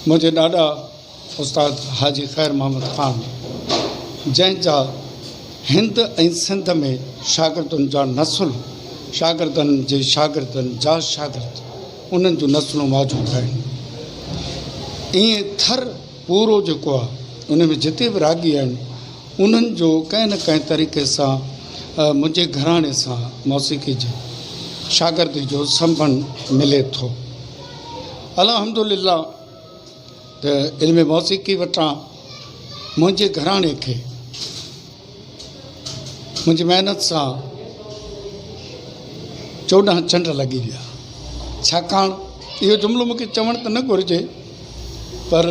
منهنجي ڏاڏا استاد حاجي خير محمد خان جنهن جا هند ۽ سنڌ ۾ شاگردن جا نسل شاگردن جي شاگردن جا شاگرد انهن جون نسلون موجود آهن ائين ٿر پورو جيڪو آهي ان ۾ جتي به راڳي آهن انهن جو ڪنهن نه ڪنهن طريقي سان منهنجي گهراڻي سان موسيقي جي شاگردي جو سنبنڌ ملي ٿو. الحمد لله ته علم موسيقي وٽان منهنجي گهراڻي کي. منهنجي محنت سان چوڏهن چنڊ لڳي ويا ڇاڪاڻ اهو جملو مون کي چوڻ ته نه گهرجي پر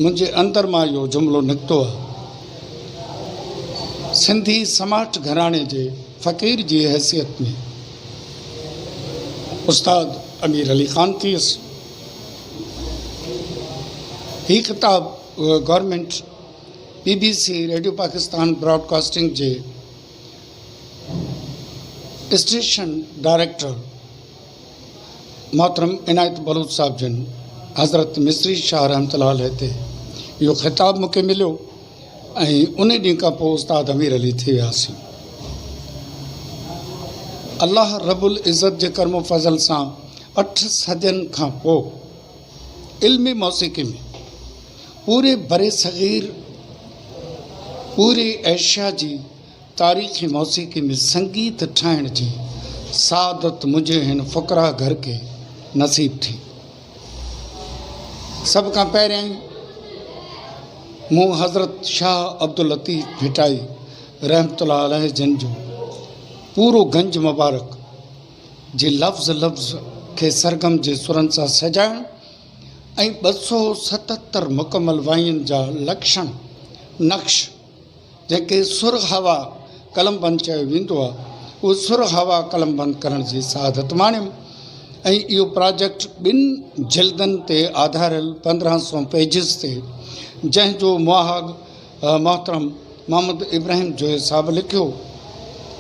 منهنجي اندر مان اهو جملو نڪتو آهي. سنڌي سماٽ گهراڻي جي فقير جي حيثيت ۾ استاد امير علي خان ٿيس. هي خطاب government B B C, radio Pakistan broadcasting جي اسٽيشن ڊائريڪٽر محترم عنايت بلوچ صاحب جن حضرت مصري شاهه رحمة الله عليه تي اهو خطاب مونکي مليو ۽ انهي ڏينهن کان پوء استاد امير علي ٿي وياسين. الله رب العزت جي ڪرم و فضل سان اٺ صدين کان پوء علمي موسيقي ۾ پوري برصغير پوري ايشيا جي تاريخي موسيقي ۾ سنگيت ٺاهڻ جي سعادت منهنجي هن فقراء گهر کي نصيب ٿي. سڀ کان پهريائين مون حضرت شاهه عبداللطيف ڀٽائي رحمة الله عليه جن جو پورو گنج مبارڪ، جي لفظ لفظ کي سرگم جي سرن سان سجائڻ ۽ ٻه سؤ ستهتر مڪمل وائين جا لڪشڻ، نقش، جنهن کي سر هوا قلم بند چيو ويندو آهي، اهو سر هوا قلم بند ڪرڻ جي سعادت ماڻيم ۽ اهو پراجيڪٽ ٻن جلدن تي آڌاريل پندرهن سؤ پيجز تي جنهن جو مهاڳ محترم محمد ابراهيم جويي صاحب لکيو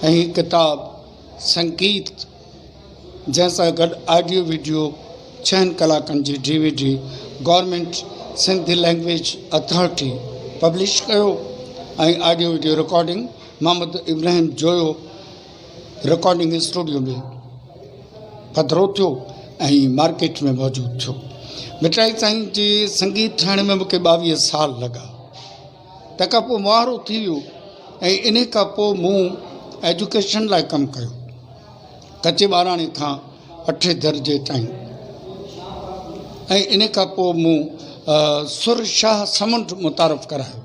۽ هي ڪتاب سنگيت جنهن سان گڏ آڊيو وڊيو ڇهن ڪلاڪن جي D V D government Sindh language authority publish ڪيو ۽ audio video recording Muhammad Ibrahim Joyo recording studio ۾ پڌرو ٿيو ۽ مارڪيٽ ۾ موجود ٿيو مٺائي سائين جي سنگيت ٺاهڻ ۾ مونکي ٻاويهه سال لڳا تنهن کان پوء مؤهر اٿي ويو ۽ انهي کان پوء مون ايجوڪيشن لاء ڪم ڪيو. ڪچي ٻاراڻي کان اٺين درجي تائين ۽ انهي کان پوء مون سر شاهه سمنڊ متعارف ڪرايو.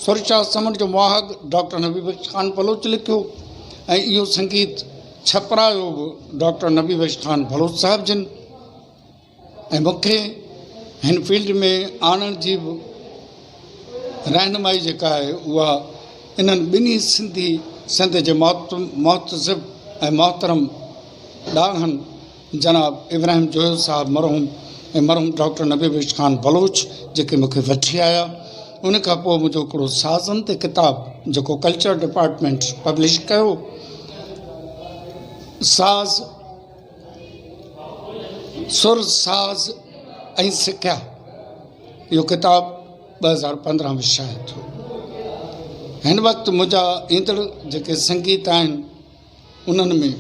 سر شاهه سمنڊ جو مؤهگ ڊاڪٽر نبي بخش خان بلوچ لکيو ۽ اهو سنگيت ڇپرايو به ڊاڪٽر نبي بخش خان بلوچ صاحب جن. ۽ مون کي هن فيلڊ ۾ آڻڻ جي به رهنمائي جيڪا آهي اها انهن ٻنهي سنڌي سنڌ جي محتسب ۽ محترم ڏاهن جناب ابراهيم جويو صاحب مرحوم ۽ مرحوم ڊاڪٽر نبي بخش خان بلوچ جيڪي مون کي وٺي آيا ان کان پوء منهنجو هڪڙو سازن تي ڪتاب جيڪو ڪلچر ڊپارٽمينٽ پبلش ڪيو ساز سر ساز ۽ سکيا اهو ڪتاب ٻه هزار پندرهن ۾ شايع ٿيو هن وقت منهنجا ايندڙ جيڪي سنگيت آهن انهن ۾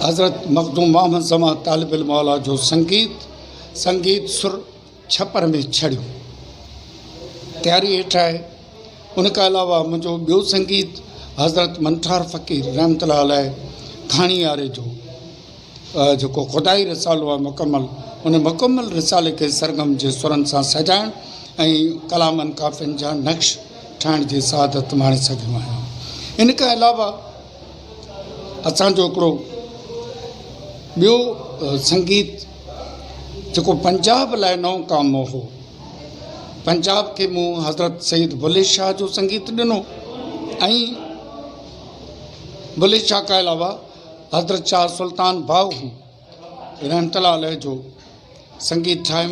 حضرت مخدوم محمد زمان طالب الموليٰ جو سنگيت سنگيت سر ڇپر ۾ ڇڙيو تياري هيٺ آهي. ان کان علاوه منهنجو ٻيو سنگيت حضرت منٺار فقير رحمة الله عليه ڪھاڻياري جو جيڪو خدائي رسالو آهي مڪمل ان مڪمل رسالي کي سرگم جي سرن سان سجائڻ ۽ ڪلامن ڪافين جا نقش ٺاهڻ جي سعادت ماڻي سگهيو آهيان. ان کان علاوه اسان جو هڪڙو ٻيو سنگيت جيڪو پنجاب لاء نئون ڪام هو پنجاب کي مون حضرت سيد بلي شاهه جو سنگيت ڏنو ۽ بلي شاهه کان علاوه حضرت شاهه سلطان باهو رحمت الله عليه جو سنگيت ٺاهيم.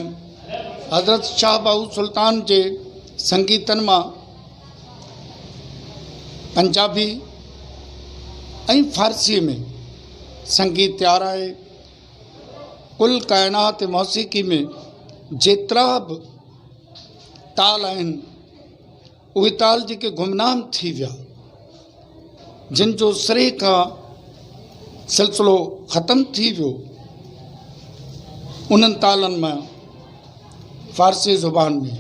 حضرت شاهه بهاء سلطان جي سنگيتن مان پنجابي ۽ فارسيء ۾ سنگيت تيار آهي. ڪل ڪائنات موسيقي ۾ جيترا به تال آهن، اهي تال جيڪي گمنام ٿي ويا، جن جو سري کان سلسلو ختم ٿي ويو، انهن تالن مان فارسي زبان ۾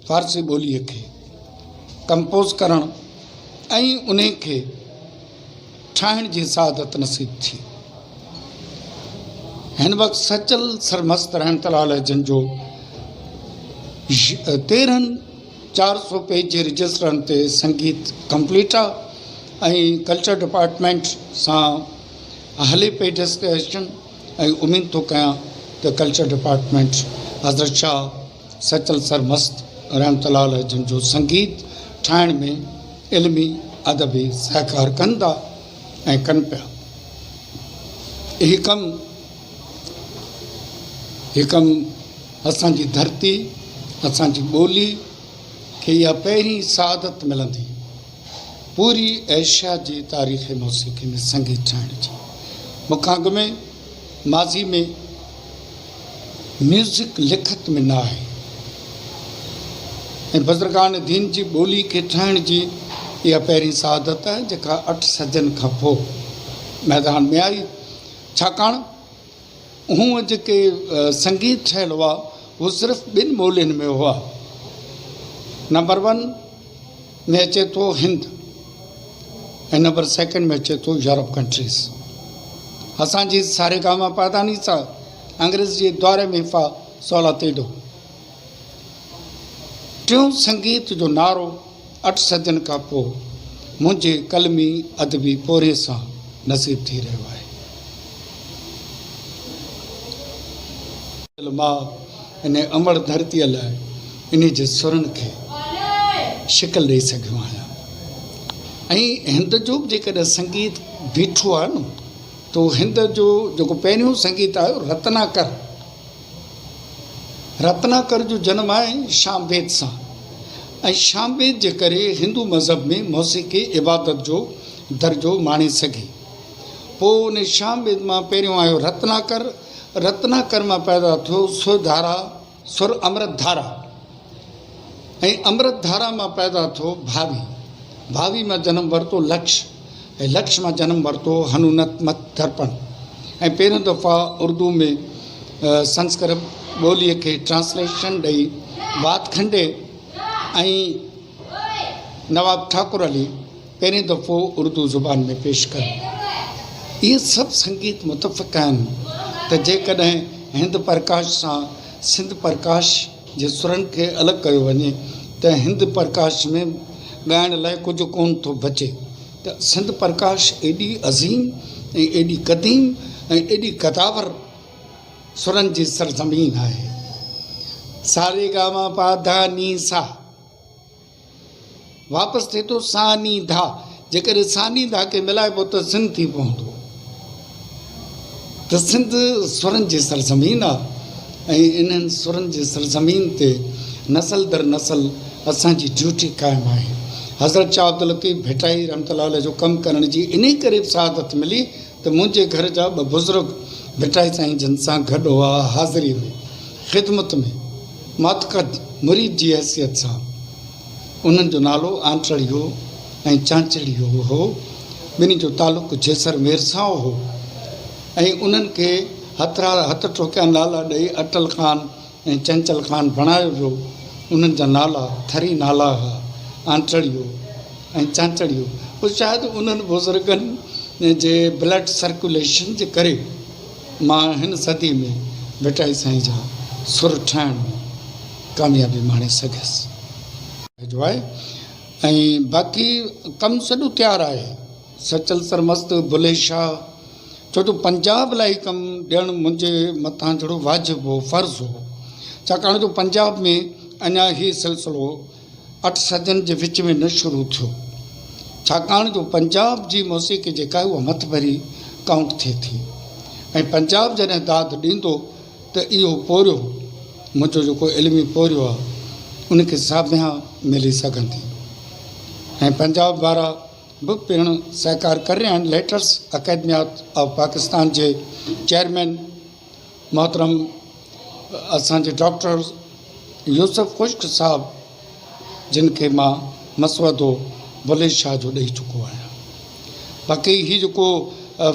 فارسي ٻوليء کي ڪمپوز ڪرڻ ۽ انهي کي ٺاهڻ جي سعادت نصيب ٿي. هن وقت سچل سرمست رحمة الله عليه جن جو تيرهن چار سؤ پيج جي رجسٽرن تي سنگيت ڪمپليٽ آ ۽ ڪلچر ڊپارٽمينٽ سان هلي پئي ڊسڪشن ۽ اميد ٿو ڪيان ته ڪلچر ڊپارٽمينٽ حضرت شاهه سيتل سرمست رحمت الله عليه جن جو سنگيت ٺاهڻ ۾ علمي ادبي سهڪار ڪندا ۽ ڪن پيا اهي ڪم حڪم اسان جي ڌرتي، اسان جي ٻولي کي اها پهرين سعادت ملندي پوري ايشيا جي تاريخ موسيقي ۾ سنگيت ٺاهڻ جي. مون کان اڳ ۾ ماضي ۾ ميوزڪ لکت ۾ نه آهي ۽ بزرگان دين جي ٻولي کي ٺاهڻ جي اها پهرين سعادت آهي جيڪا اٺ صدين کان پوء ميدان ۾ آئي. ڇاڪاڻ هو جيڪي سنگيت ٺهيل هئا اهي صرف ٻن ٻولين ۾ هئا. نمبر ون ۾ اچي ٿو هند ۽ نمبر سيڪنڊ ۾ اچي ٿو يورپ ڪنٽريز. اسان جي ساريگاما پادانيسا انگريز جي دؤر ۾ فا سول اتي ڏو. ٽيون سنگيت جو نعرو اٺ صدين کان پوء منهنجي قلمي ادبي پورهيي سان نصيب ٿي رهيو آهي. دل ماء انهيء امڙ ڌرتيء لاء انهيء جي سرن کي شڪل ڏئي سگهيو آهيان ۽ هند جو به جيڪڏهن سنگيت بيٺو آهي نه ته اهو هند جو جيڪو پهريون سنگيت آيو رتناڪر رتناڪر جو جنم آهي شام ويد سان ۽ شام ويد جي ڪري هندو مذهب ۾ موسيقي عبادت جو درجو ماڻي سگهي. پوء ان شام ويد مان پهريون آيو رتناڪر، رتناڪر مان پيدا ٿيو سر ڌارا، سر امرت ڌارا، ۽ امرت ڌارا مان پيدا ٿو ڀاوي، ڀاوي مان جنم ورتو لڪش ۽ لڪش مان جنم ورتو هنونت مت درپڻ ۽ پهريون دفعا اردو ۾ سنسڪرت ٻوليء کي ٽرانسليشن ڏئي وات کنڊي ۽ نواب ٺاڪر علي پهرين دفعو اردو زبان ۾ پيش ڪيو. اهي سڀ سنگيت متفق آهن ته جيڪڏهن هند پرڪاش سان سنڌ پرڪاش، جي سرن کي الڳ ڪيو وڃي ته هند پرڪاش ۾ ڳائڻ لاء ڪجهه ڪونه ٿو بچي ته سنڌ پرڪاش ايڏي عظيم ۽ ايڏي قديم ۽ ايڏي قداور سرن جي سرزمين آهي سا ري گا ما پا ڌا ني سا. واپس ٿئي ٿو ثاني ڌا، جيڪڏهن ثاني ڌا کي ملائبو ته سن ٿي پوندو ته سنڌ سرن جي سرزمين آ ۽ انهن سرن جي سرزمين تي نسل در نسل اسان جي ڊيوٽي قائم آهي. حضرت شاهه عبداللطيف ڀٽائي رحمة الله عليه جو ڪم ڪرڻ جي انهي ڪري به سعادت ملي ته منهنجي گهر جا ٻه بزرگ ڀٽائي سائين جن سان گڏ هئا، حاضريء ۾، خدمت ۾، ماتقد مريد جي حيثيت سان. انهن جو نالو آنٽرڙيو ۽ چانچڙيو هو. ٻنهي جو تعلق جيسر مير سان هو ۽ انهن کي هٿرار هٿ ٺوڪيا نالا ڏئي اٽل خان، ۽ چنچل خان بڻايو ويو. انهن جا نالا ٿري نالا ها، آنٽڙيو ۽ چانچڙيو. پوء شايد انهن بزرگن جي بلڊ سرڪيوليشن جي ڪري مان هن صدي ۾ ڀٽائي سائين جا سر ٺاهڻ ۾ ڪاميابي ماڻي سگهيس. جو آهي ۽ باقي ڪم سڄو تيار آهي سچل سرمست، بلي شاهه. ڇو جو پنجاب لاء هي ڪم ڏيڻ منهنجي مٿان جھڙو واجب هو، فرض هو، ڇاڪاڻ جو پنجاب ۾ اڃا هي سلسلو اٺ صدين جي وچ ۾ نه شروع ٿيو. ڇاڪاڻ جو پنجاب جي موسيقي جيڪا آهي اها مٿ ڀري ڪائونٽ ٿئي ٿي ۽ پنجاب جڏهن داد ڏيندو ته اهو پورهيو، منهنجو جيڪو علمي پورهيو آهي، ان کي ساڀيان ملي سگهندي ۽ پنجاب وارا. به پڻ سهڪار ڪري رهيا آهن، ليٽرس اڪيڊميات آف پاڪستان جي چيئرمين محترم اسان جي ڊاڪٽر يوسف خشڪ صاحب جن کي مان مسودو بلي شاهه جو ڏئي چڪو آهيان باقي هي جيڪو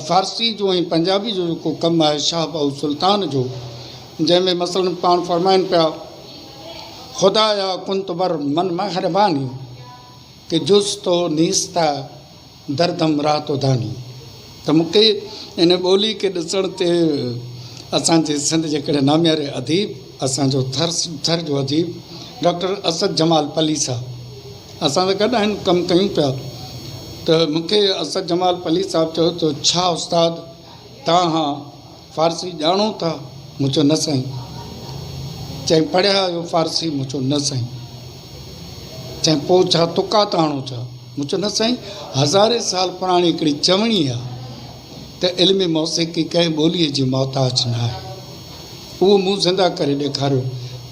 فارسي جو ۽ پنجابي جو جيڪو ڪم آهي شاهه بهو سلطان جو جنهن ۾ مثلا پاڻ فرمائن پيا خدايا ڪن تو بر من مهرباني ڪي جز تو نيستا دردم را تو داني ته مون کي ان ٻولي کي ڏسڻ تي اسان جي سنڌ جي ڪهڙي نامياري اديب اسان جو ٿر ٿر جو اديب ڊاڪٽر اسد جمال پليسا اسان سان گڏ آهن ڪم ڪيون پيا ته مون کي اسد جمال پليسا چيو ته ڇا استاد تان هان فارسي ڄاڻو ٿا؟ مون چيو نه سائين. چيائين پڙهيا آهيو فارسي؟ مون چيو نه سائين. چيائين پوء ڇا طقات آڻو ٿا؟ مون چيو نه سائين هزارين سال پراڻي هڪڙي چوڻي آهي ته علم موسيقي ڪنهن ٻوليء جي محتاج نه آهي. اهو مون زنده ڪري ڏيکاريو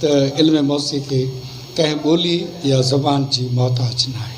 ته علم موسيقي ڪنهن ٻولي يا زبان جي محتاج نه آهي.